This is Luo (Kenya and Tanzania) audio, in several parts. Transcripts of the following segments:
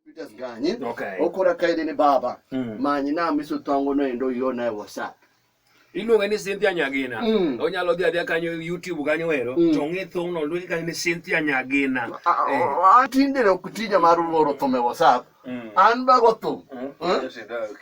Peters ganye okay. okora kaide ni baba mm. manyi na miso tongo no endo yo na whatsapp iluonge ni Cynthia Nyagina mm. onyalo dhi adhiya kanyo YouTube kanyo ero mm. to ng'e thong no luonge kanyo ni Cynthia Nyagina eh. atinde ok tija mar oro thum e WhatsApp mm. an bago thum mm. eh?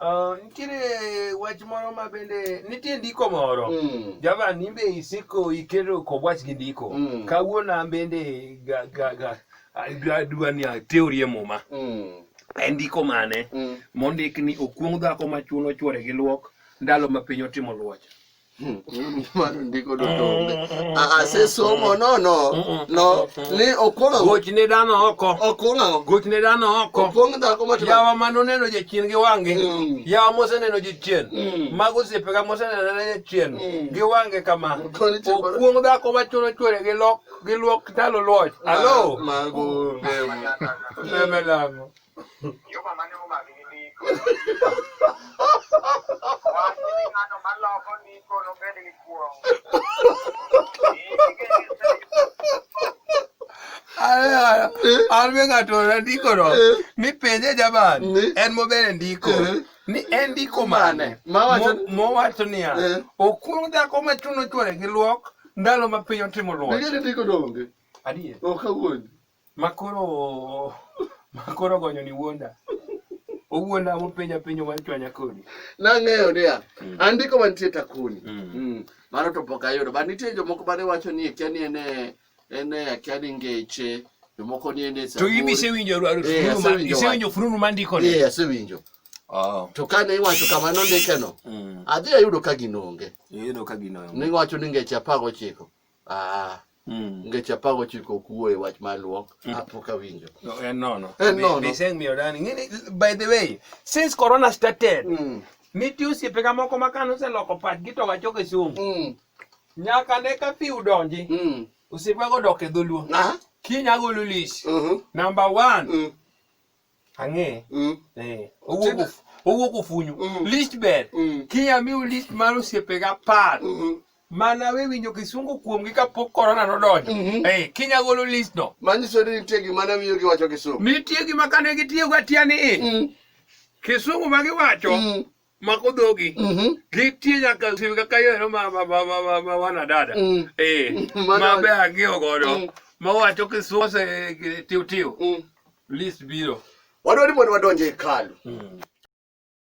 Uh, nitiere wach moro ma bende nitie ndiko moro mm. javan nimbe isiko iketo kod wach gi ndiko mm. kawuono an bende adwa ni ateorie muma mm. en ndiko mane mm. mondik ni okuong' dhako ma chuno chwore gi luok ndalo ma piny otimo luoch mano ndiko duto onge asesomo ah, ah, ah, no no no ni okwonga goch ne dano oko okwonga goch ne dano oko okwong dhako matwa yawa mano neno jachien gi wange mm. yawa mose neno jachien mm. mago osiepe ga mose neno ne jachien mm. gi wange kama okwong dhako machuno chwere gi lok gi luok talo luoch alo mago meme lango Juma mane omaki gi ndiko. Wach ni ng'ano maloko ndiko nobed gi kuong'. an be ng'ato nandikono mipenje jaban en mobere ndiko ni en ndiko mane mowacho niya okuong dhako machuno chwore gi luok ndalo ma piny otimo luok Makoro makoro gonyoni wuonda. Owuonda mopenja penjo mar chwanya kodi. Nang'eyo niya, mm. andiko mantie takuni. Mm. Mm. Mano to pok ayudo. Ba nitie jomoko bane wacho ni kia ni ene ene kia ni ngeche. Jomoko ni ene sa. To ibi se winjo eh, fururu ma ise winjo fururu ma ndiko ni. Eh, ase winjo. Oh. To kane iwacho kama nondikeno, mm. adhi ayudo ka ginonge. Iyudo ka ginonge. Niwacho ni ngeche apago chiko. Ah, Mm. ngeche apar gochiko ok wuo e wach mar luok apok awinjo No, en nono. En Be- nono. be iseng' miyo dani. Ng'eni, by the way, since corona started, Mm, nitie osiepega moko ma kane oseloko pachgi to wachoke somo. mm, Nyaka ne ka fiu donji, mm. osiepego dok e dholuo. Ah, Kiny agolo list. mhm, Number one, mm, Ang'e. Mm. Eh. Owuok of- owuok ofunyu. Mm. List ber. Mm. Kinya miu list mar osiepega apar. Mhm. Mana we winjo kisungu kuomgi kapok korona nodonjo. Mhm. Eh, Kinya golo list no. Manyiso ni nitie gima ne miyo giwacho Kisumu. Nitie gima kane gitiyogo atiya ni i. Mm. Kisungu ma giwacho Mm. mako dhogi mhm. gitie nyaka simu kaka yoero ma ma ma ma ma wana dada mm. eh mm. ma be ang'eyo godo mm. ma wacho kisose eh, tiu tiu list biro wadwani mondo wadonje hekalu